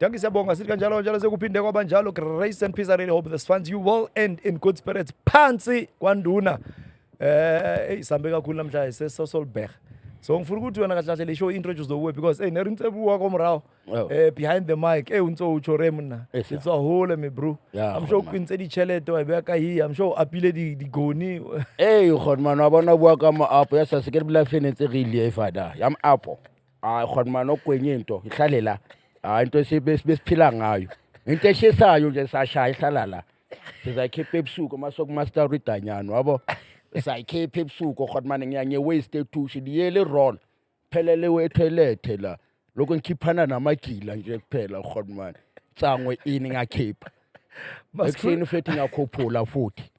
Dankie siyabonga sithi kanjalo kanjalo sekuphinde kwaba njalo grace and peace I really hope this finds you well and in good spirits phansi kwanduna eh hey sambe kakhulu namhlanje sesosolbeh so ngifuna ukuthi wena kahle kahle le show introduce the way because hey nerincebu wakho mrawo Oh. eh behind the mic eh untso utsho re mna Yes, sir. it's a hole me bro Yeah, i'm sure khona. uqinise ditšhelete wa e beya ka hi i'm sure o apile di- digoni ee kgone mane wa bona o bua ka moapo ya sa se ke re bula fenetse re ilie fada ya moapo hayi khona mani okwenye into ihlale la hayi into esiphila ngayo into eshisayo nje sashaya ihlala la sizayikhipha ebusuku uma sokumaster ridanyana wabo sayikhipha ebusuku khona mani ngiya ngiye-waste etushe liyele irona phelele wethoyilethe la lokhu ngikhiphana namagila nje kuphela khona mani tsango ini ngakhipha Ekuseni ufethi ngakhuphula futhi.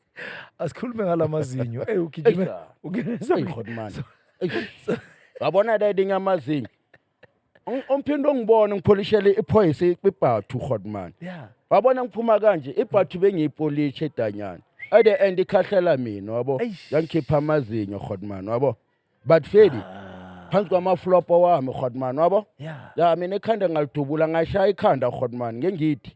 Asikhulume ngalamazinyo. Ey ugijime. Eish, ah. Ugijime. Ey hot man. Eish. Wabona daddy ngamazinyo. Ong- Umphinde ongibona ngipholishele iphoyisa ibhathu hot man. Yeah. Wabona ngiphuma kanje ibhathu bengiyipolishe danyana. At the end ikhahlela mina wabo. Eish. Yangikhipha amazinyo hot man wabo. But Fedi phansi kwamaflopo wami hot man wabo. Yeah. Ya mina ikhanda ngalidubula ngashaya ikhanda hot man ngengithi.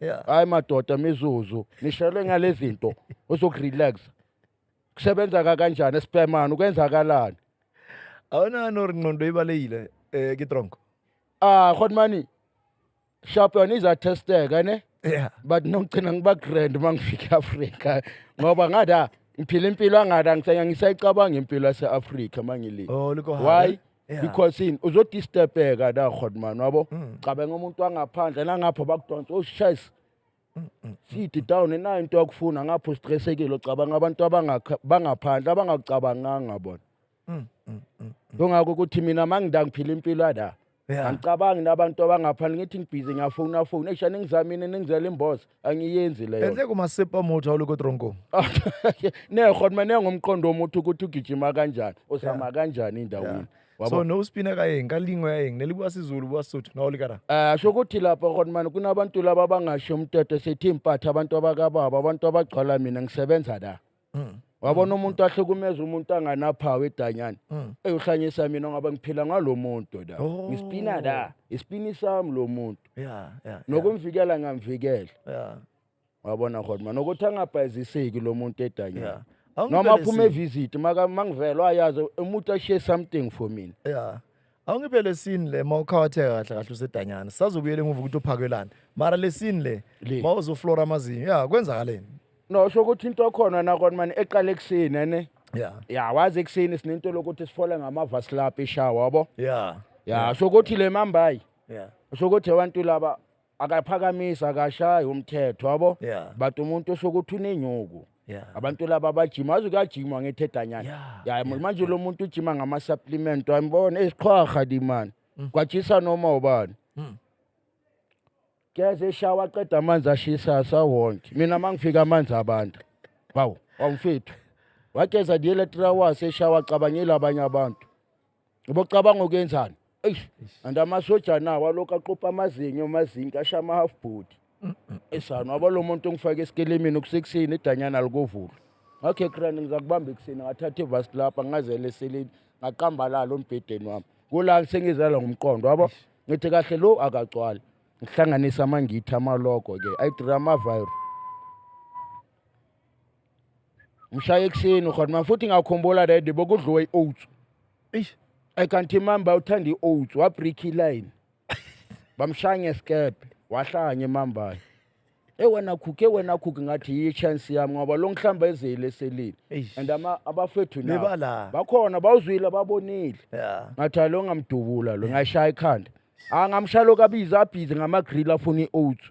Yeah. hayi madoda mizuzu nishelwe ngale zinto uzokurelax kusebenza ka kanjani espemani ukwenzakalani Awunani or ngqondo ibalekile eh kitronko. ah khotmani sharp yona izatesteka ne Yeah. but nokugcina ngiba grand uma ngifika e-afrika ngoba ngathi ah ngiphila impilo angathi angisayicabanga impilo yase-afrika uma ngilile Oh liko why Yeah. because yini uzodisturbeka la godman wabo Mm. cabanga umuntu wangaphandle nangapho bakudonsa oshayisa Mm, sidi down inayo into yakufuna ngapho stressekile ucabanga abantu abangakha- bangaphandle abangakucabanganga bona Mm, mm, mm. kungako ukuthi mina mangida ngiphila impilo yala Yeah. angicabangi nabantu abangaphandle ngithi ngibhizi ngiyafona fona esha ningizamini ningizela imboza angiyenzi leyo enhle kumasepa motho awuloko etronko neho mina nengomqondo womuntu ukuthi ugijima kanjani usama kanjani endaweni so no spina ka yeng ka lingwe ya yeng ne le bua sizulu bua sotho na o le kara um sho ukuthi lapha khona mani kunabantu laba abangasho umthetho sithi impatha abantu abakababa abantu abagcwala mina ngisebenza la mm. wabona umuntu ahlukumeza umuntu anganaphawu edanyana mm. eyohlanyisa mina ngoba ngiphila ngalo muntu la oh. ngisipina la isipini sami lo muntu nokumvikela ngamvikela wabona khona nokuthi angabhayiziseki lo muntu edanyana noma aphuma evisit mangivelwa ayazi umuntu ashiye something for mina awungiphe lesini le ma ukhawatheka kahle kahle usedanyana sisazobuyela emuva ukuthi uphakelani mara lesini le Le. ma uzoflora amazinyo ya kwenzakaleni no sho ukuthi into khona nakona mani eqala ekuseni ne ya ya wazi ekuseni sinento lokuthi sifole ngamava silapha ishawa yabo ya ya sho ukuthi le mambayi ya sho ukuthi abantu laba akaphakamisi akashayi umthetho yabo Yeah. but umuntu osuke uthi unenyuku Yeah. abantu laba bajima azi kuyajimwa ngethedanyana Yeah, ya manje lo muntu ujima ngama-supplement wambona esiqhwaha dimani Mm. kwajisa noma ubani Mm. keze eshawa aqeda amanzi ashisa asawonke mina uma ngifika amanzi abantu bawu wawumfethu wageza the electra was eshawa acabangile abanye abantu ngoba ucabanga ukuyenzani eish and amasoja nawo alokhu aqopha amazinyo amazinki asha ama-half body esani waba lo muntu ongifake esikelemini kusekuseni idanyana likovula ngakho ekrani ngizakubamba ekuseni ngathatha ivasi lapha ngazele eseleni ngaqambalala ombhedeni wami kula sengizala ngomqondo wabo ngithi kahle lo akagcwali ngihlanganisa amangithi amalogo-ke ayidrama virus ngishaya ekuseni khona manje futhi ngakhumbula that day bokudliwe i-oats Eish. i can't remember uthanda i-oats wabreak iline bamshaya ngesikebhe wahlaya ngemambayo e wena khukhe wena khukhe ngathi yiyi chance yami ngoba lo ngihlamba ezeli eselile Eish. and ama- abafethu nabo Bebala. bakhona bawuzwile babonile Yeah. ngathi "Hayi, lo ngamdubula lo ngashaya ikhanda angamshaya lokhu abize abhize ngama-grill afuna i-oats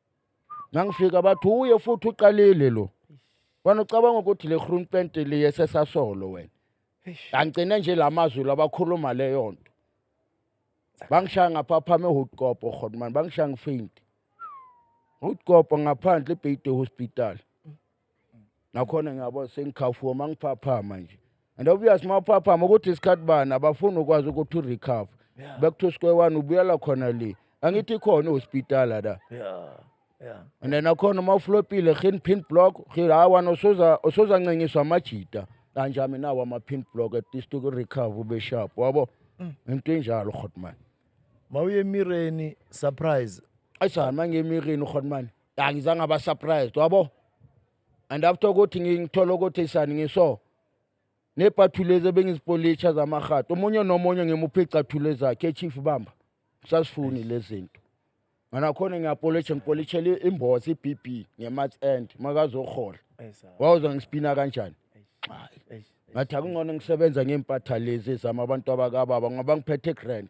ngangifika bathi uye futhi uqalile lo wena ucabanga ukuthi le groen pent liye sesasolo wena angigcine nje la mazwi labakhuluma leyo nto bangishaya ngaphaphama ehutkopo khona mani bangishaya ngifinti hutkopo ngaphandle ibheyide hospital nakhona ngiyabo sengikhafuwa uma ngiphaphama nje and obvious uma uphaphama ukuthi isikhathi bani abafuni ukwazi ukuthi urecover yeah. back to square one ubuyela khona le angithi khona ehospitala la yeah. Yeah. and then akhona uma uflopile gin pin block gin hawa nosoza osoza ncengiswa amajita kanje mina nawo ama pin block at least uku recover ube sharp wabo mm. into enjalo khotman mawuye emireni surprise ayisana mangemireni khotman angizange aba surprised wabo and after ukuthi ngithola ukuthi sani ngiso nebhathulezi ebengizipolitsha zamahato omunye nomunye ngimuphe icathulo zakhe echief bamba sasifuni lezinto nganakhona ngiyapolitsha ngipolitshela imbozi ibb ngemat end makazohola wawuza ngisipina kanjani ngathi akungcono ngisebenza ngempatha lezi zama abantu abakababa ngoba ngiphethe grand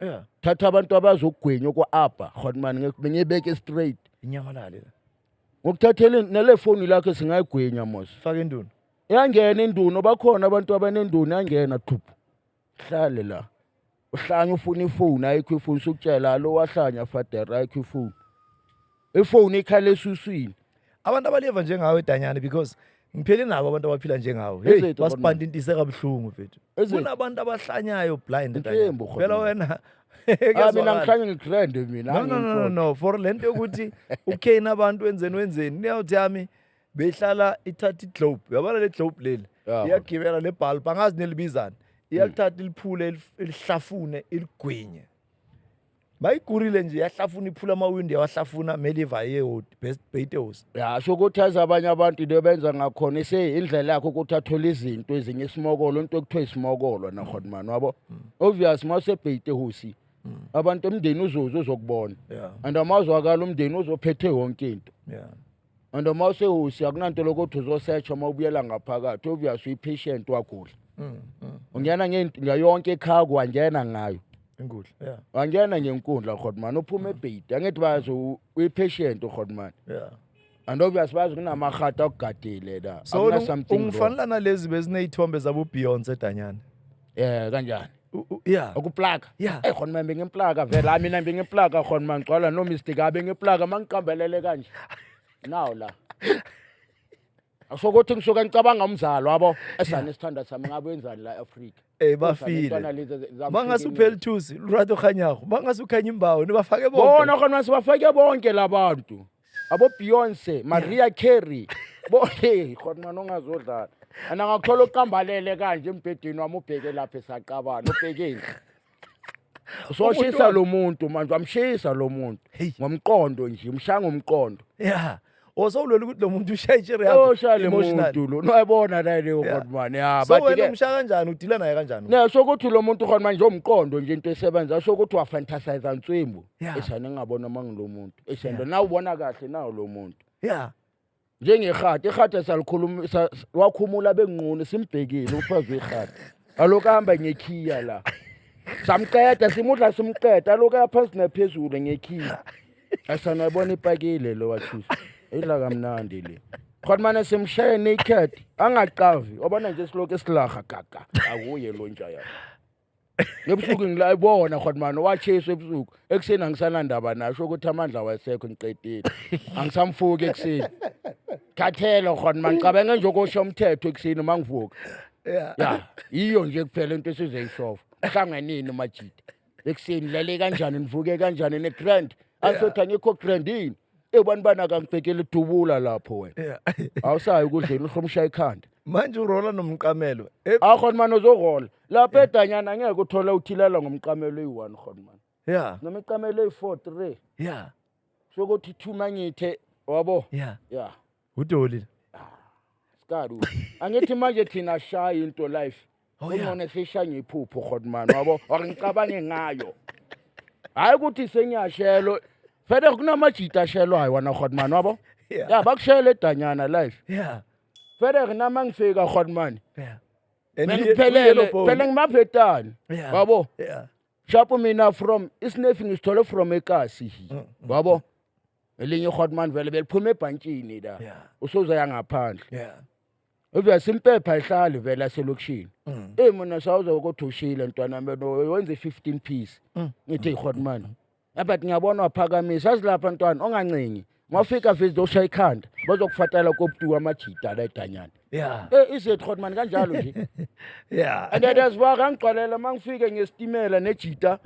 yeah thatha abantu abazokugwenya kwa-abba hotman ngiyebeke straight inyamalale ngokuthathele nale foni lakhe singayigwenya mos fake induna yangena induno bakhona abantu abanenduno yangena thuphu hlale la uhlanya ufuna ifoni ayikho ifoni sukutshela lo wahlanya fadera ayikho ifoni ifoni ikhala esuswini abantu abaleva njengawe danyane because ngiphele nabo abantu abaphila njengawo hey Ezitha basipanda intise kabuhlungu mfethu Ezitha. kunabantu abahlanyayo blind Mthembu, Danyana. khona. phela wena ah mina kuyazwakala. ngihlanye ngigrand mina no no no no angiyikholwa. no for lento yokuthi ukane abantu wenzeni wenzeni niyawuthi yami behlala ithatha iglobe yabona le globe leli Yeah. iyagibela le bulb angazi nelibizani iyalithatha iliphule ilif- ilihlafune iligwinye bayigurile nje yahlafuna iphula amawindi yawahlafuna meliva yeyod best beatles ya sho ukuthi azi abanye abantu into benza ngakhona iseyindlela yakho ukuthi athole izinto ezinye isimokolo into ekuthiwa isimokolo nakhona mani wabo obvious uma usebheitehosi abantu umndeni uzoze uzokubona Yeah. and amazwakala umndeni uzophethe yonke into yeah and uma usehosi akunanto lokuthi uzosetsha uma ubuyela ngaphakathi obvious uyi-patient wagula mm, mm. ungena ngayonke ekhaya kwangena ngayo inkundla yeah wangena ngenkundla rhodman uphuma mm. ebhedi angithi bazi uyi-patient urhodman yeah and obvious bazi kunamarhata okugadile la so ungifanela nalezi beziney'thombe zabobeyonce danyane um kanjani U- u- ya ukuplaka Yeah. eyi khona manje ngiplaka vele hayi mina bengiplaka khona mangigcwala nomistake hayi bengiplaka mangiqambelele kanje nawo la asho ukuthi ngisuke ngicabanga umzalo wabo esane isithanda sami ngabe wenzani la eAfrika Eh, bafile. bangase uphela ithusi lurato kganyago bangase ukhanye imbawo nibafake bonke bona khona sibafake bonke labantu abo Beyonce Maria Carey bo hey khona nongazodlala ana ngakuthola uqambalele kanje embhedeni wami ubheke lapha esaqabana ubhekeni usoshisa lo muntu manje wamshisa lo muntu Hey. ngomqondo nje umshaya ngomqondo ya osowulwela ukuthi lo muntu ushaya i-chair yakho oshaya le emotionally. muntu lo noyabona naye leyo Yeah. kodwa mani ya so wena bathi-ke umshaya kanjani udila naye kanjani ne sokuthi lo muntu khona manje umqondo nje into esebenza sokuthi wafantasize nswimbu Yeah. eish ane ngingabona uma ngilo muntu eish and nawe ubona kahle nawo lo muntu yeah njengerhadi irhadi salikhuluma sa- s- wakhumula benginquni simbhekile umfazi werhadi aloku ahamba ngekhiya la samqeda simudla simqeda aloku ayaphansi naphezulu ngekhiya asanayibona ipakile lo wathusa idla kamnandi le khona mane simshaye naked angacavi wabona nje silokhu esilaha gaga akuye lo nja yakho ebusuku ngila ibona khona mani wachesa ebusuku ekuseni angisanandaba nasho ukuthi amandla wayesekho ngiqedile angisamfuki ekuseni thathela khona mani cabenge nje ukosha umthetho ekuseni uma ngivuka ya yiyo nje kuphela into esizoyisova hlanganini majida ekuseni lale kanjani nivuke kanjani ne-grand angisothi angikho grand yini ebani bani akangibhekele idubula lapho wena awusayi ukudleni uhlomsha ikhanda manje urola nomqamelo Eh, akhona mani ozohola lapho yeah. edanyana ngeke uthole uthilala ngomqamelo eyi-one khonman yeah. noma iqamelo eyi-four three yeah. sokuthi thuma ngithe wabo yeah. yeah. udolile ah, sikadu angithi manje thina shaya into life oh, yeah. umona sisha ngiphupho khonman wabo or ngicabange ngayo hhayi ukuthi sengiyashelo fede kunamajita ashelwayo wana khonman wabo yeah. yeah, bakushayela edanyana life yeah. fede kunama ngifika khonman yeah. And Mina he- kuphelele yellow bone. phela ngimabhetani Yeah. wabo Yeah. shapo mina from isinefi ngisithole from ekasi hi Mm, wabo elinye ihotman vele beliphuma ebhantshini la Yeah. usuzaya ngaphandle Yeah. uvya simpepha ihlali vele aselokishini Mm. eyi mina sawuze ukuthi ushile ntwana meno wenze i-fifteen piece Mm. ngithi ihotman Ngapha ngiyabona waphakamisa asilapha ntwana ongancengi. Ngafika vezi doshaya ikhanda bazokufatela kobutuka amajida la edanyana. Yeah. Eh izethu khona mani kanjalo nje. Yeah. And that is why ngangigcwalela mangifike ngesitimela nejita.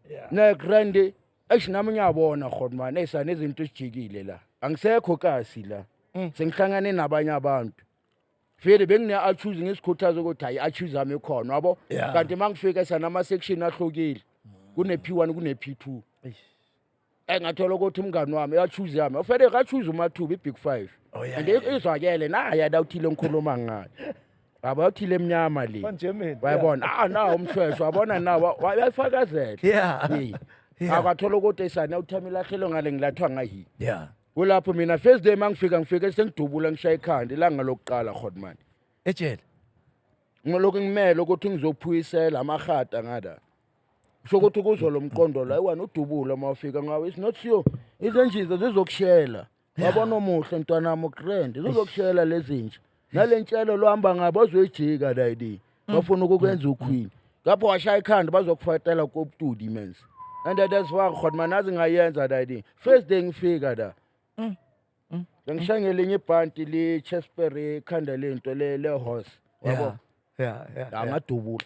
Yeah. Ne grande eish nami ngiyabona khona mani esane izinto ezijikile la. Angisekho kasi la. Mm. Sengihlangane nabanye abantu. vele bengine-achuze ngisikhuthaza ukuthi hayi i-achuze ami khona wabo Yeah. kanti uma ngifika sanama-section ahlukile kune-p one kune-p two Eh, ngathola ukuthi umngani wami i-achuze yami ofele kachuze umathuba i-big five Oh, yeah, and yeah, i- izwakele naye adawuthile ngikhuluma ngayo yabo yawuthile emnyama le Onjemeni, wayibona ah nawo umshweshwe wabona nawo wayifakazela Yeah. Yeah. akathola ukuthi esani awuthami ilahlelo ngale ngilathwa ngayi yeah kulapho mina first day mangifika ngifike sengidubula ngishaye ikhanda ilanga lokuqala godman ejele ngolokhu ngimele ukuthi ngizophuyisela amahata ngada kusho ukuthi kuzwa lo mqondo la iwani udubula uma ufika ngawo it's not sure izinjiza zizokushela wabona omuhle mntwanami ukrend zizokushela lezinja nalentshelo lohamba ngabo ozoyijika lady mm. bafuna ukukwenza mm. uqueen ngapho washaya ikhanda bazokufatela kobutudi mens and that's why khona manazi ngayenza lady first day ngifika la mm. ngishaya ngelinye ibhanti le-chesper ekhanda lento le-horse yabo yeah yeah yeah angadubula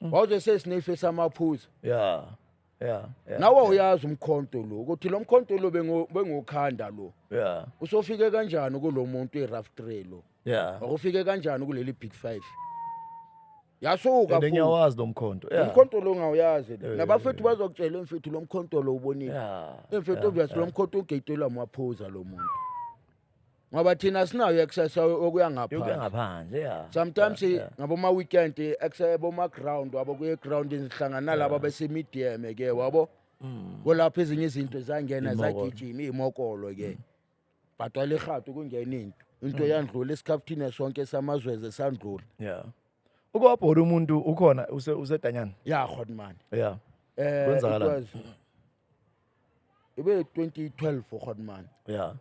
Mm. wawuze sesinife samaphuza yeah yeah yeah nawe uyazi umkhonto lo ukuthi lo mkhonto lo bengo- bengokhanda lo yeah usofike kanjani kulo muntu i-rough tray lo yeah wakufike kanjani kuleli big five yasuka and futhi. ngiyawazi lo mkhonto yeah umkhonto lo ngawuyazi lo. Eh, nabafethu bazokutshela emfethu lo mkhonto lo ubonile yeah emfethu obvious lo mkhonto ugetelwa amaphuza lo muntu ngoba thina sinayo i-exercise okuya ngaphandle yokuya ngaphandle ya sometimes Yeah, yeah. ngaboma-weekend i-exercise boma-ground wabo kuye-groundini sihlangana nalaba besemidiyeme ke wabo kolapho ezinye izinto zangena Mm. Iy'mokolo. Mm. zagijima iy'mokolo ke bhadwala irhatu kungena into Mm. into yandlula esikhafuthini sonke samazweze sandlula ya uke wabhola umuntu ukhona use- usedanyana ya hotman ya um Kwenzakalani? ibe 2012 ukhona manje yeah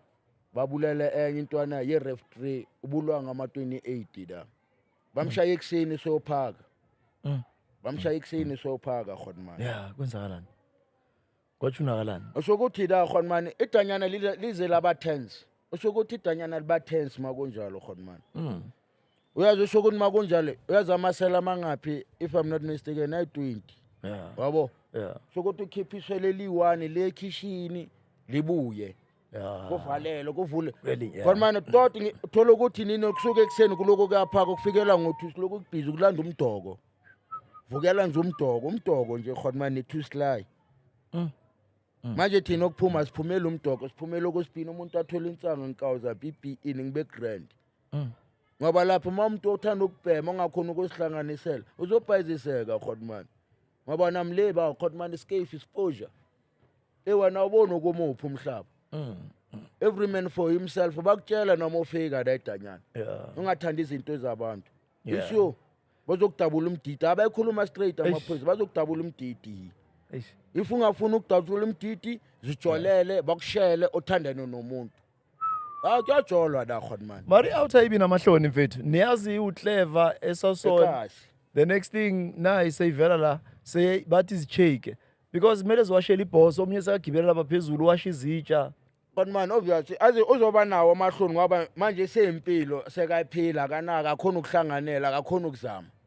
babulele enye intwana ye ref 3 ubulwa ngama 28 da bamshaya ekuseni sophaka Mm. bamshaya ekuseni sophaka khona manje ya kwenzakalani kwatsho unakalani usokuthi la khona manje idanyana lize- lize laba tense usokuthi idanyana liba tense makunjalo khona manje Mm. uyazi usho ukuthi makunjalo uyazi amasela amangaphi if i'm not mistaken ayi-20 yeah. wabo yeah. sho ukuthi ukhipha iswele eliyi-one lekhishini libuye kuvalelo kuvule khona mane toti thola ukuthi nini okusuke ekuseni kuloko kuyaphaka kufikela ngo-two siloko kubhizi kulanda umdoko vukela nje umdoko umdoko nje khona mane two sly mm. Mm. manje thina okuphuma siphumela umdoko siphumela okwesibhini umuntu athole insango ngikawuza bp ini ngibe grand mm. ngoba lapho uma umuntu othanda ukubhema ongakhona ukusihlanganisela uzobhayiziseka hotman ngoba nam le ba hotman iscafe ispoja ewena ubona ukumuphi umhlaba mm. every man for himself bakutshela noma ufika ledanyana ungathanda izinto ezabantu isho bazokudabula umdidi abayikhuluma straight amaphoyisa bazokudabula umdidi if ungafuni ukudabula umdidi zijolele bakushele othandane nomuntu Ah kuyajolwa la khona manje. Mari outer ibi namahloni mfethu. Niyazi u clever esason. Ekahle. The next thing nayi seyivela la sey bathi izishake because kumele ziwashele ibhoso omunye sekagibela lapha phezulu washa izitsha. But man obvious aze uzoba nawo amahloni ngoba manje seyempilo sekaphila kanaka akhona ukuhlanganela akakhona ukuzama.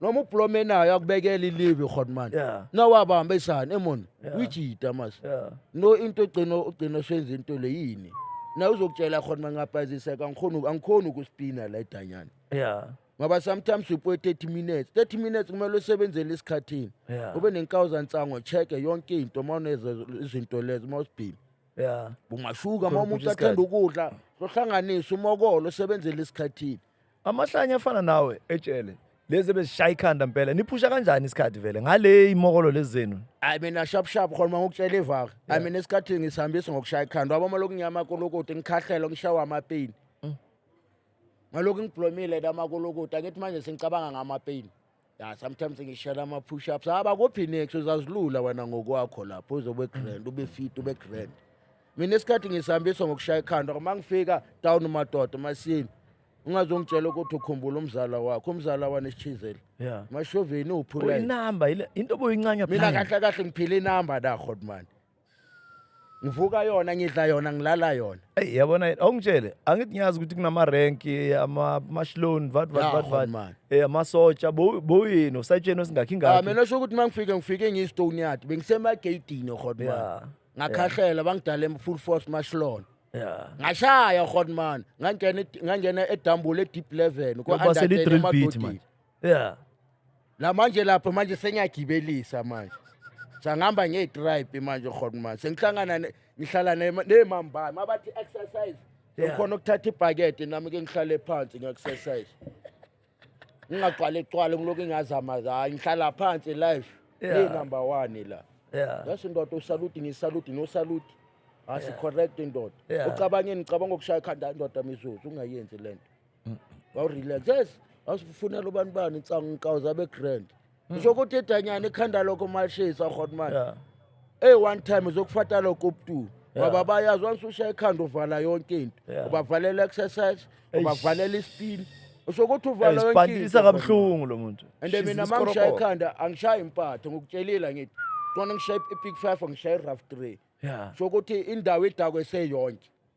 noma ubhlome nayo akubekela ilivi khona manje Yeah. nawabamba isani emon Yeah. uyijita mas Yeah. no into ogcina ogcina usenza into le yini na uzokutshela khona mangabhaziseka angikhona angikhona ukuspina la idanyana Yeah. ngoba sometimes upoe 30 minutes 30 minutes kumele usebenzele esikhathini Yeah. ube nenkawuza nsango check yonke into uma uneza izinto lezo uma usibhini Yeah. ungashuka uma Khona umuntu ukuthi athanda ukudla sohlanganisa umokolo usebenzele esikhathini amahlanya afana nawe etshele lezi ebezishaya ikhanda mpela niphusha kanjani isikhathi vele ngale imokolo lezi zenu hayi mina shap shap khona uma ngikutshela ivaka hayi mina esikhathini ngisihambisa ngokushaya ikhanda waboma lokhu ngiyamakolokoda ngikhahlela ngishawa amapeyini ngalokhu ngiblomile namakolokoda angithi manje sengicabanga ngamapeyini ya sometimes ngishela ama-push ups haba ah, kuphi next uzazilula wena ngokwakho lapho uzobe grand ube fit ube grand mina isikhathi ngisihambiswa ngokushaya ikhanda uma ngifika down madoda masini ungazongitshela ukuthi ukhumbula umzala wakho umzala wanesithizeli yeah. mashoveni uphula inamba into obuyincanya mina kahle kahle ngiphila inamba da hotman ngivuka yona ngidla yona ngilala yona eyi yabona awungitshele angithi ngiyazi ukuthi kunamarenki amashloni vat vat vat vat um eh, amasotsha buyini usatsheni osingakhi ah, ngakhi mina sho ukuthi uma ngifike ngifike ngiyistone yard bengisemageyidini ohodman ngakhahlela bangidala full force mashloni ngashaya ohodman ngangena edambule e-deep eleven kwa-under ten emadodini yeah la manje lapho manje sengiyagibelisa manje sangihamba ngeyi-tribe manje khona manje sengihlangana ne- ngihlala ne- nemambami abathi exercise Yeah. ngikhona ukuthatha ibhakede nami ke ngihlale phansi ngi-exercise ngingagcwale cwale ngilokhu ngingazamazaa ngihlala phansi life Yeah. neyinumber one la yeah yasho ndoda usaluti ngisaluti nosaluti asicorrect ndoda Yeah. ucabangeni ngicabanga ukushaya ikhanda ndoda mizuzu ungayenzi le nto wawurelax yes wasifunela ubani bani insangu ngiqawuza begrand ngisho ukuthi edanyana ekhanda lokho malishisa rhotmani Yeah. ey one time uzokufata lokho ubutu Yeah. ngoba bayazi once ushaya ikhanda uvala yonke into Yeah. ubavalela exercise Eish. ubavalela ispin usho ukuthi uvala yonke Isibhandisa into, kabuhlungu lo muntu. and She's mina mangishaya iskorokoro. ikhanda angishayi impatho ngikutshelile ngithi kona ngishaye i-pick five angishaye i-rough three Yeah. sho ukuthi indawo idakwe seyonke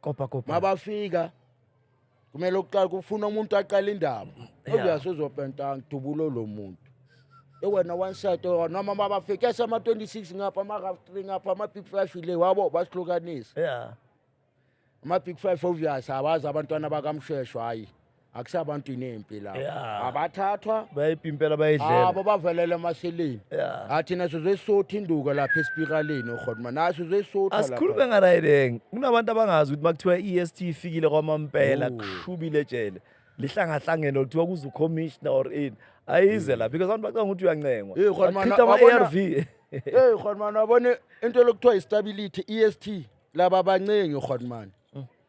kopa kopa mabafika kumele uqala kufuna umuntu aqala indaba oyazi uzopenta ngidubulo lo muntu ewena one side or noma mabafika esama 26 ngapha ama half 3 ngapha ama big 5 ile wabo basihlukanisa yeah ama big 5 obvious abazi abantwana bakamshesho hayi akusabantwini empi la Yeah. abathathwa bayiphi impela bayidlela abo bavelele emaseleni Yeah. athi naso zesotha induka lapha esipikaleni ugodma naso zesotha asikhulume ngarayideng kunabantu abangazi ukuthi makuthiwa i-est ifikile kwamampela Ooh. kushubile ejele lihlangahlangene or kuthiwa kuze ucommissioner or ini ayize la because abantu bacanga ukuthi uyancengwa Hey, Khona Bachitha Mana, wabona- ama-arv eyi godman wabona into lokuthiwa istability e-st laba abaningi godman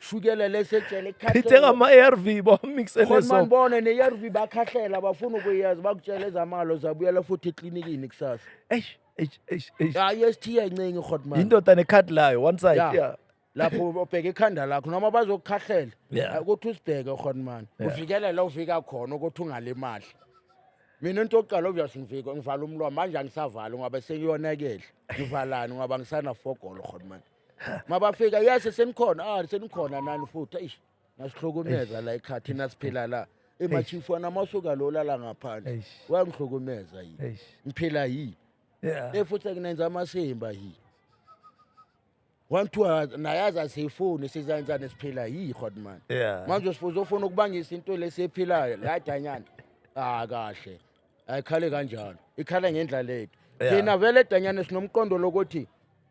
shukela lesejele Ngithenga ama-ARV bawamixele khona so. manibone ne-arv bakhahlela bafuna ukuyazi bakutshela ezamalo zabuyela futhi eklinikini kusasa Eish, eish, eish, eish. hayi esithiya incengi hotman Yindoda nekhadi layo one side. Ya. Yeah. lapho ubheke ikhanda lakho noma bazokukhahlela Yeah. Hayi, ukuthi usibheke hotman uvikele la uvika khona ukuthi ungalimali mina into yokuqala obvious ngivika ngivala umlomo manje angisavali ngoba sengiyonakele ngivalani ngoba ngisanafogolo hotman mabafika yese senikhona ah senikhona nani futhi eish nasihlukumeza la ekhaya thina siphila la emachifu anamasuka lo lala ngaphandle Eish. wangihlukumeza yini Eish. ngiphila yini Yeah. le futhi akunenza amasimba yini wanthiwa nayazi asiyifuni sizanjani siphila yiyi hotman Yeah. manje sifuze ufuna ukubangisa into lesiyiphilayo ladanyana ah kahle ayikhale kanjalo ikhala ngendlela lethu Yeah. thina vele danyana sinomqondo lokuthi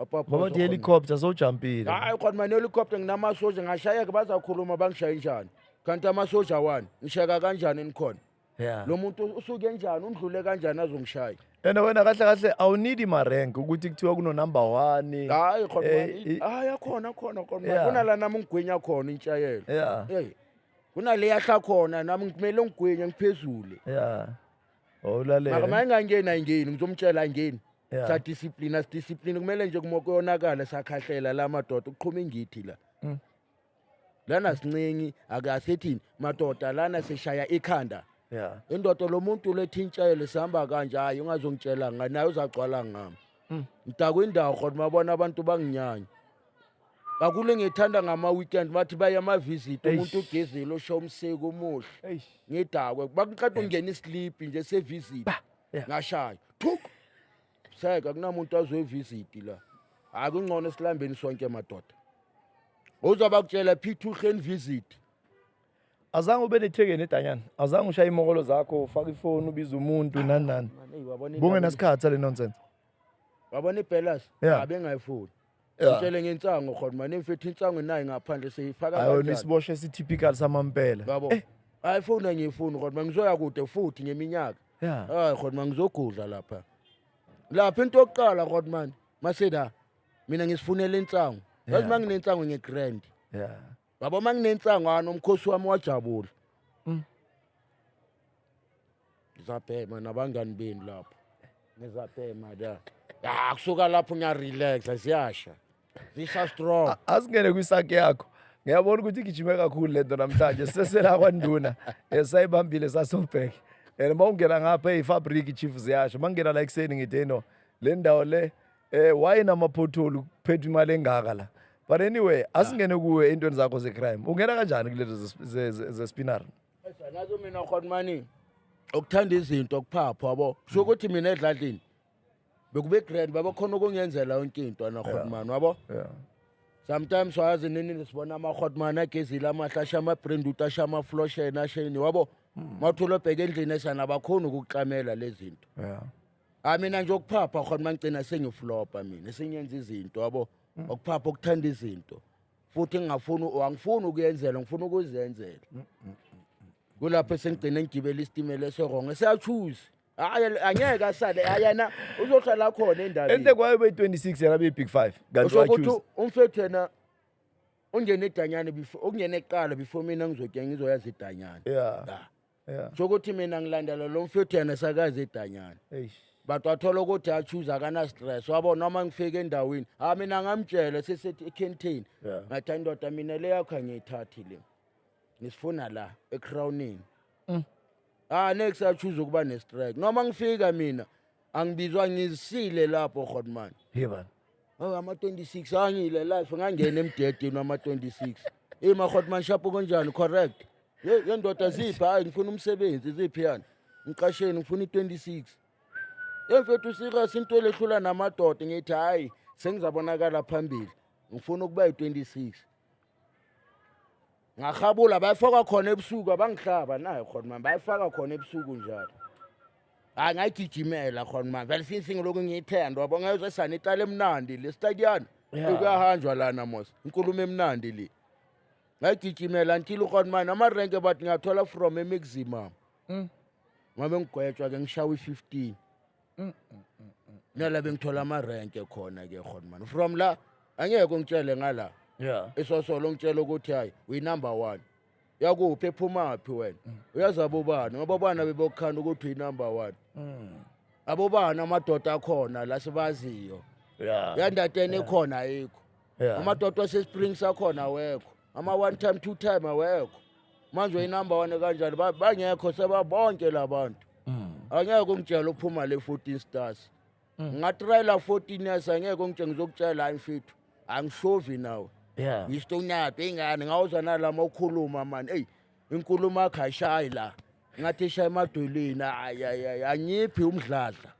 Ngoba uthi helicopter sowujampile. hayi khona mani helicopter nginamasosha ngashayeka bazakhuluma bangishaye njani kanti amasosha wani ngishayeka kanjani nikhona Yeah. lo muntu usuke njani undlule kanjani azongishaya And wena kahle kahle awunidi ma rank ukuthi kuthiwa kuno number 1. hayi khona Eh, mani i- hayi akhona khona khona Yeah. mani kunala nami ngigwinya khona intshayelo Yeah. Hey, kunale yahla khona nami ngimele ngigwinye ngiphezule Yeah. Awulalele. makamanye ngangeni ayingeni ngizomtshela ayingeni Yeah. sadiscipline asidiscipline kumele nje kumo kuyonakala sakhahlela la madoda ukuqhuma ingithi la Mm. lana sincingi akasithini madoda lana sishaya ikhanda Yeah. indoda lo muntu lethintshele sihamba kanje hayi ungazongitshela ngani naye uzagcwala ngami Mm. ngidakwa indawo khona mabona abantu banginyanya kakule ngithanda ngama-weekend bathi baye amavisit Eish. umuntu ugezile usho umseko umuhle Eish. ngidakwe bakuqeda ungena isiliphi nje sevisit Yeah. ngashaya thuk seka kunamuntu azoyivisiti la hayi kungcono esilambeni sonke madoda uzoba kutshela phitha uhleni visit azange ube nethekeni edanyana azange ushaye imokolo zakho ufake ifoni ubize umuntu nani nani Eyi, wabona indaba- bungenasikhathi sale nonsense wabona ibhelas Yeah. abengayifuni Yeah. Ngitshele ngensango khona manje mfethu insango nayi ngaphandle seyifaka ayona kanjani. isibosho esitypical samampela Yabo. Eh, Hayi foni angiyifuni kodwa manje ngizoya kude futhi ngeminyaka. Yeah. Hayi kodwa manje ngizogudla lapha. Lapha into yokuqala kodwa manje maseda mina ngisifunela insango. Yazi Yeah. manginensango ngegrand. yeah. yabo uma nginenhlangano umkhosi wami wajabula Mm. ngizabhema nabangani benu lapho ngizabhema la ya kusuka lapho ngiyarelaxa ziyasha zisha strong A- asingene kwisakhe yakho ngiyabona ukuthi igijime kakhulu le nto namhlanje sesela kwanduna Eh, sayibambile sasobhek and uma ungena ngapha eyifabriki chief ziyasho uma ngingena la ekuseni ngithe no le ndawo le Eh why namaphotholi kuphetha imali engaka la. But anyway, asingene kuwe entweni zakho zecrime. Ungena kanjani kulezo ze- ze- ze- zespinar? nazo mina khona mani ukuthanda izinto kuphapho yabo kusho ukuthi mina edladlini bekube grand babekhona ukungenzela yonke into anahotman wabo Yeah. sometimes wayazi nini nisibona amahotman agezile amahle ashe amabrand ut ashe amaflosheni asheni wabo mawuthola obheka endlini esana bakhona ukukuxamela lezi zinto Yeah. hayi mina nje ukuphapha khona mangigcina sengiflopa mina sengenza izinto yabo mm. ukuphapha ukuthanda izinto futhi ngingafuni angifuni ukuyenzela ngifuna ukuzenzela mm, mm, kulapho esengigcine ngigibela isitimela eserongo eseyachuzi hayi angeke asale ayena uzohlala khona endabeni ende kwayo be-26 yena be-big five kanti ukuthi umfethu yena ungene idanyane before okungene kuqala before mina ngizokuya ngizoyazi idanyane yeah. Yeah. Kusho ukuthi mina ngilandela lo mfethu yena sakaze edanyana. Eish. But wathola ukuthi achuze akana stress. Wabo noma ngifike endaweni, ha mina ngamtshela sisethi eCanteen. Yeah. Ngathi "Hayi, ndoda mina le yakho ngiyithathi le. Ngisifuna la eCrownin. Mm. Ah next achuze ukuba nestrike. Noma ngifika mina angibizwa ngizisile lapho Godman. Yebani. Oh, ama 26 angile life ngangena emdedeni wama 26 hey mahot manshapo konjani correct ye ye ndoda ziphi hayi ngifuna umsebenzi ziphi yani ngiqasheni ngifuna i26 hey mfethu serious into elehlula namadoda ngithi hayi sengizabonakala phambili ngifuna ukuba yi26 ngahabula bayifaka khona ebusuku abangihlaba nayo khona mani bayifaka khona ebusuku njalo hayi ngayigijimela khona mani vele since ngilokhu ngiyithanda wabo ngezwe sani iqala emnandi le stadiyana kuyahanjwa lana mos inkulumo emnandi le ngayigijimela until khona mani amarenke bathi ngiyathola from emiximum mm. ngabe ngigwetshwa ke ngishawa i-fifteen nala bengithola amarenke khona ke khona mani from la angeke ungitshele ngala yeah isosolo ungitshela ukuthi hayi uyinumber one yakuphi ephumaphi wena uyazi abobani ngoba obana bebokukhanda ukuthi uyinumber one abobani amadoda akhona la sibaziyo yeah yandateni ekhona ayikho yeah amadoda wasespring sakhona awekho ama one time two time awekho manje uyinumber one kanjani Ba- bangekho sebabonke labantu Mm. angeke ungitshela uphuma le 14 stars ngatrayela 14 years angeke ungitshela ngizokutshela hayi mfethu angishovi nawe Yeah. ngistonyado ingane ngawuza nalama ukhuluma mani eyi inkulumo yakho ayishayi la ngathi ishayi emadolweni ayayay angiphi umdladla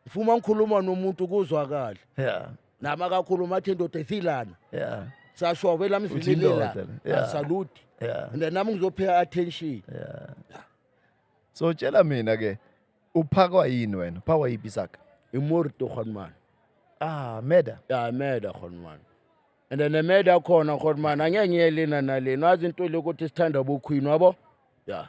Ngifuma ngikhuluma nomuntu kuzwakala. Yeah. Nami akakhuluma athi indoda isilana. Yeah. Sashove la mzini Uthini lela. ndoda? Yeah. Asalute. Yeah. And nami ngizopheya attention. So tshela mina ke uphakwa yini wena? Uphakwa yipi saka? Imori to khon man. Ah, meda. Ya meda khon man. And then meda khona khon man angeke ngiyelina nalena azinto lokuthi sithanda bokhwini wabo. Yeah.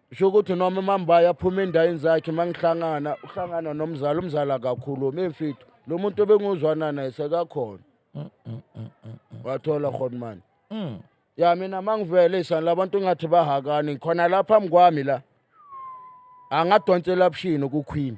sho ukuthi noma umambayi aphuma endayini zakhe uma ngihlangana uhlangana nomzali umzali akakhulumi imfitho lo muntu obenguzwana naye sekakhona mm, mm, mm, wathola rhonimani ya mina ma ngivele isani labantu ngathi bahakani khona la phambi kwami la angadonsela bushini kukhwini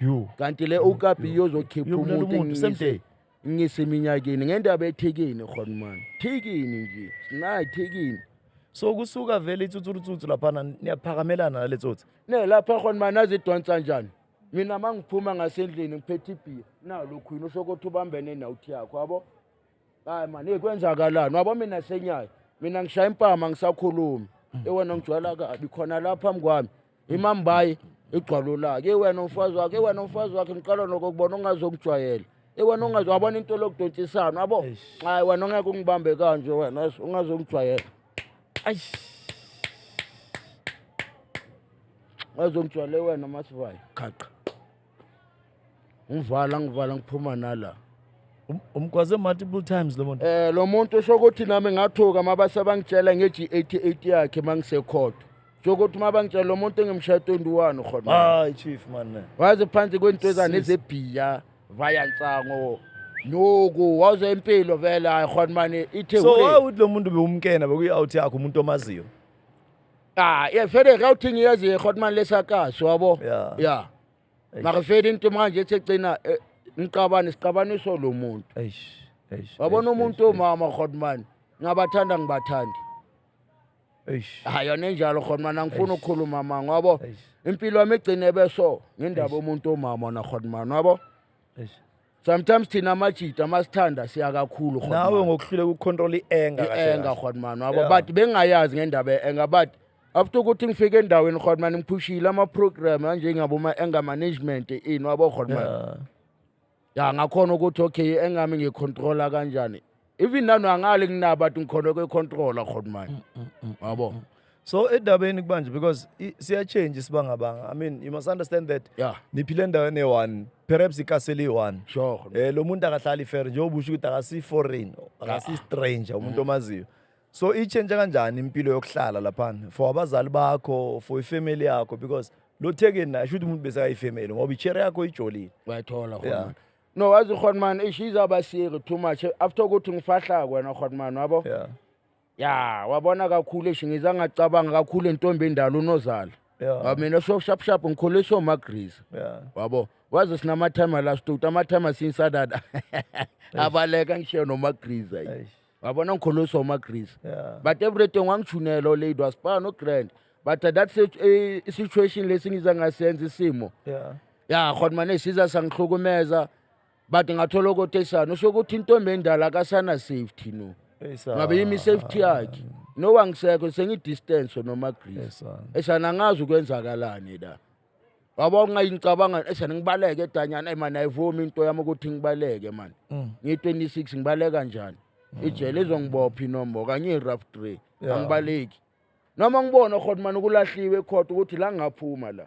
Yo. kanti le okap iyozokhipha Uyobulala umuntu umuntu, same day. ngiseminyakeni ngendaba ethekeni khona mani thekeni nje sinayi thekeni so kusuka vele itsutsurutsutsu laphana niyaphakamelana nale tsotsi ne lapha khona mani azidonsa njani mina mangiphuma ngasendlini ngiphethe ibhiya nalokhu yini usho ukuthi ubambene nawuthi yakho yabo hayi mani hey, kwenzakalani wabo mina senyayo mina ngishaya impama angisakhulumi ewena ngijwayela kabi khona la phambi kwami imambayi igcwalo lakhe ewena umfazi wakhe ewena umfazi wakhe ngiqala nokokubona ongazokujwayela ewena ongaze wabona into lokudontsisana wabo hayi wena ongeke ungibambe kanje wena yes, ungazongijwayela Eish. ungazongijwayele wena masivayo qhaqa ngivala ngivala ngiphuma nala Um- umgwaze multiple times lo muntu eh lo muntu usho ukuthi nami ngathuka mabase bangitshela nge-G88 yakhe mangisekhotho usho ukuthi mabangitshela lo muntu engimshaya 21 khona hayi chief man ne. waze phansi kwento ezane Sis. zebhiya vaya nsango nuku waze impilo vele hayi khona mani ithe so why would lo muntu bewumkena bekuyi-out yakho umuntu omaziyo ah yeah vele ka uthini yazi hotman lesakazi wabo Yeah. yeah makafeli into manje ethi egcina eh, ngiqabane siqabaniso lo muntu eish eish wabona eish, umuntu eish, omama hotman ngabathanda ngibathandi eish hayi yona enjalo hotman angifuni ukukhuluma manga wabo Eish. impilo yami igcine beso ngendaba omuntu omama na hotman wabo eish sometimes thina amajita masithanda siya kakhulu nawe ngokuhluleka ukucontrol i-anger kahle i-anger kahle. rhodmani wabo Yeah. but bengingayazi ngendaba ye-anger but after ukuthi ngifike endaweni rhodmani ngiphushile ama-program anjengaboma-anger management ini wabo rhodmani Yeah. ya ngakhona ukuthi okay i-anger mi ngiyicontrola kanjani even nanu angale kunabo athi ngikhona kwe-controller khona manje mm, mm, yabo so edabeni kubanje because i- siyachange isibangabanga i mean you must understand that Yeah. niphile endaweni eyi-one perhaps ikasele iyi-one Sure. um lo muntu akahlali fair njengoba usho ukuthi akasiyi-foreign akasiyi-stranger umuntu omaziyo so itshentshe kanjani impilo yokuhlala laphana for abazali bakho for ifamily yakho because lo thekeni naye sho ukuthi umuntu besekayifamily ngoba ichere yakho ijolile bayithola khona Yeah. manje. no wazi ukhona mani eish izaba siri too much after ukuthi ngifahla kwena ukhona mani wabo yeah ya wabona kakhulu eish ngiza ngacabanga kakhulu entombi endala unozala yeah ngoba mina so sharp sharp ngikhuliswa umagrisa yeah wabo waze sinamathayima la stuti amathayima sinsadada abaleka ngishiye nomagriza yi. eish wabona ngikhuliswa umagrisa yeah but everything wangijunela olady wasibana nogrand but at that sit- eh, situation lesi ngiza ngasenza isimo yeah ya khona mane siza sangihlukumeza but ngathola ukotesana usho ukuthi intombi endala akasana safety no ngabe yimi safety yakhe no wangisekho sengidistance noma grease esana ngazi ukwenzakalani la waba ungayingicabanga esana ngibaleke edanyana man ayivumi into yami ukuthi ngibaleke man mm. ngi 26 ngibaleka njani mm. ijele izongibopha inombo kanye rough tray angibaleki noma ngibona khona man ukulahliwe ekhotha ukuthi la ngaphuma la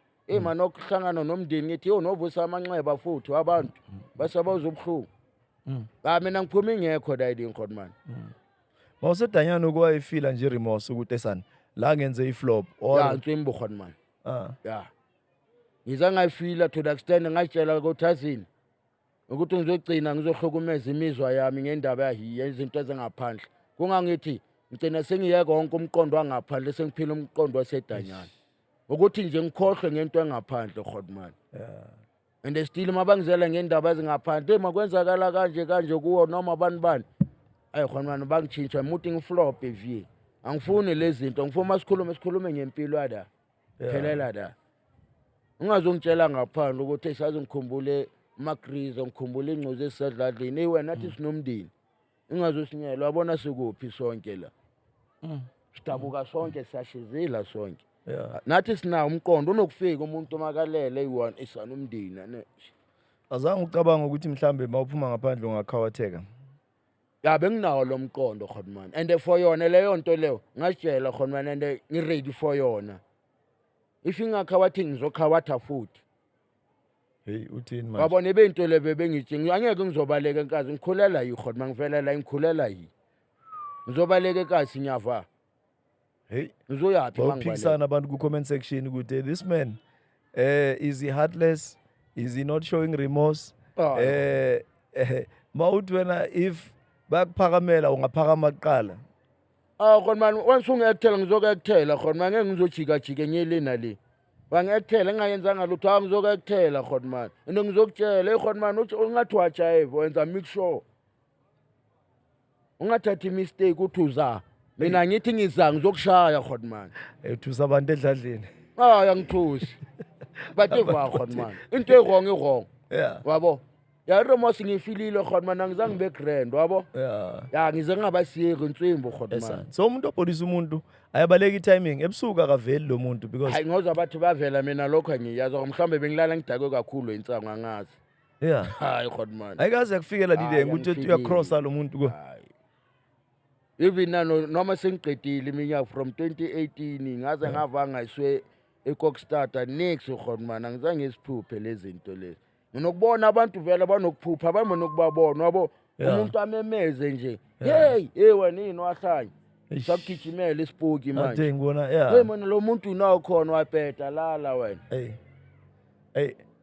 eyi mm. mani okuhlangana nomndeni ngithi yo novusa amanxeba futhi abantu mm. basabaza ubuhlungu mm. ka ah, mina ngiphuma ingekho dayidi ngikhona mani mawusedanyana ukuwayifila nje remorse ukuthi esani la ngenze iflop ya ntswimbo khona mani ah. ya ngize ngayifila to the extent ngayitshela kothazini ukuthi ngizogcina ngizohlukumeza imizwa yami ngendaba yezinto ezingaphandle kungangithi ngigcina sengiyeka wonke umqondo wangaphandle sengiphila umqondo wasedanyana ukuthi nje ngikhohlwe ngento engaphandle godman and still mabangizela ngendaba ezingaphandle makwenzakala kanje kanje kuwo noma abantu bani ayi godman bangitshintsha muthi ngiflop vie angifuni lezi zinto ngifuna uma sikhulume sikhulume ngempilo yala Yeah. phelela la ungazongitshela ngaphandle ukuthi esazi ngikhumbule amagrizo ngikhumbule ingcozi esisadladlini eyi wena thi sinomndeni ingazosinyela wabona sikuphi sonke la Mm. sidabuka sonke siyashizila sonke Yeah. nathi sinawo umqondo unokufika umuntu omakalele eyi-one esana umndeni ane- Azange ucabanga ukuthi mhlambe mawuphuma ngaphandle ungakhawatheka. ya benginawo lo mqondo khonman and for yona leyo nto leyo ngasitshela khonman and ngi-ready for yona if ingakha wathi ngizokha watha futhi heyi uthini manje wabona ibeyinto le bebengitshinga angeke ngizobaleka enkazi ngikhulela yi khona uma ngivela la ngikhulela yi ngizobaleka enkazi nyava Hey, uzoyaphi mangibale bawuphikisana abantu ku-comment section ukuthi this man eh is he heartless is he not showing remorse Ah. eh eh, ma uthi wena if bakuphakamela ungaphakama kuqala ah khona mani once ungi-ekthela ngizoku-ekthela khona mani ngeke ngizojikajika enye le nale wangi-ekthela engayenzanga lutho a ngizoku-ekthela khona mani and ngizokutshela eyi khona mani ungathi wajayiva wenza make sure ungathathi mistake uthi uza mina ngithi ngiza ngizokushaya khona manje ethusa abantu edladleni hayi angithusi bativa khona manje into ewrong iwrong yeah wabo yaromos ngifilile khona manje angizange ngibe grand wabo yeah ya ngize ngingabasiyeki inswimbo khona Yes, manje so umuntu obhodisa umuntu ayabaleka i-timing ebusuku akaveli lo muntu because hayi ngoza bathi bavela mina lokho angiyazi or mhlawumbe bengilala ngidakwe kakhulu insango angazi yeah hayi god man ayikaze yakufikela Hayi, lile ukuthi angifikile. uyacrossa lo muntu ko Hayi. even nano noma sengiqedile iminyaka from 2018 ngaze ngavanga iswe ekokstata next god man angizange isiphuphe lezinto lezi nginokubona abantu vele banokuphupha abambe nokubabona wabo Yeah. umuntu amemeze nje hey hey wanini wahlanya Eish. sakugijimela isipoki manje ade ngibona hey yeah mina lo muntu unawo khona wabheda lala wena hey hey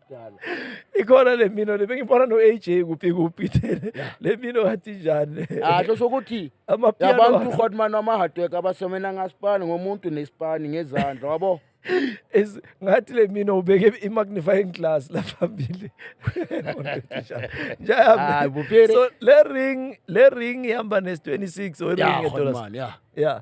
kudala ikhona le mino le bengibona no AJ kuphi kuphi thele le mino ngathi njani ah kusho ukuthi amapiano abantu uHotman wamahatweka abasomena ngaspani ngomuntu nespani ngezandla wabo is ngathi le mina ubeke i-magnifying glass la phambili so le ring le ring ihamba nes-26 or ring edollars yeah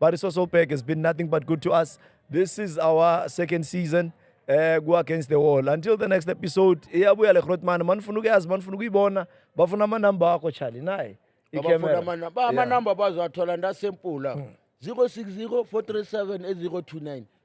But it's also back. It's been nothing but good to us. This is our second season. eh ku against the wall until the next episode iyabuya le Grootman manifuna ukuyazi manifuna ukuyibona bafuna ama number akho Charlie naye abafuna amana- ba- amanamba bazowathola ndasempula 060 437 029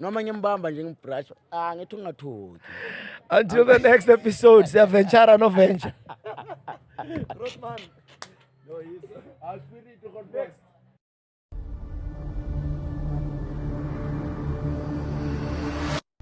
noma ngimbamba nje ngibrush ah ngithi ungathuki until the next episode siyaventure no venture Rotman. No, he's. I'll spirit it to confess.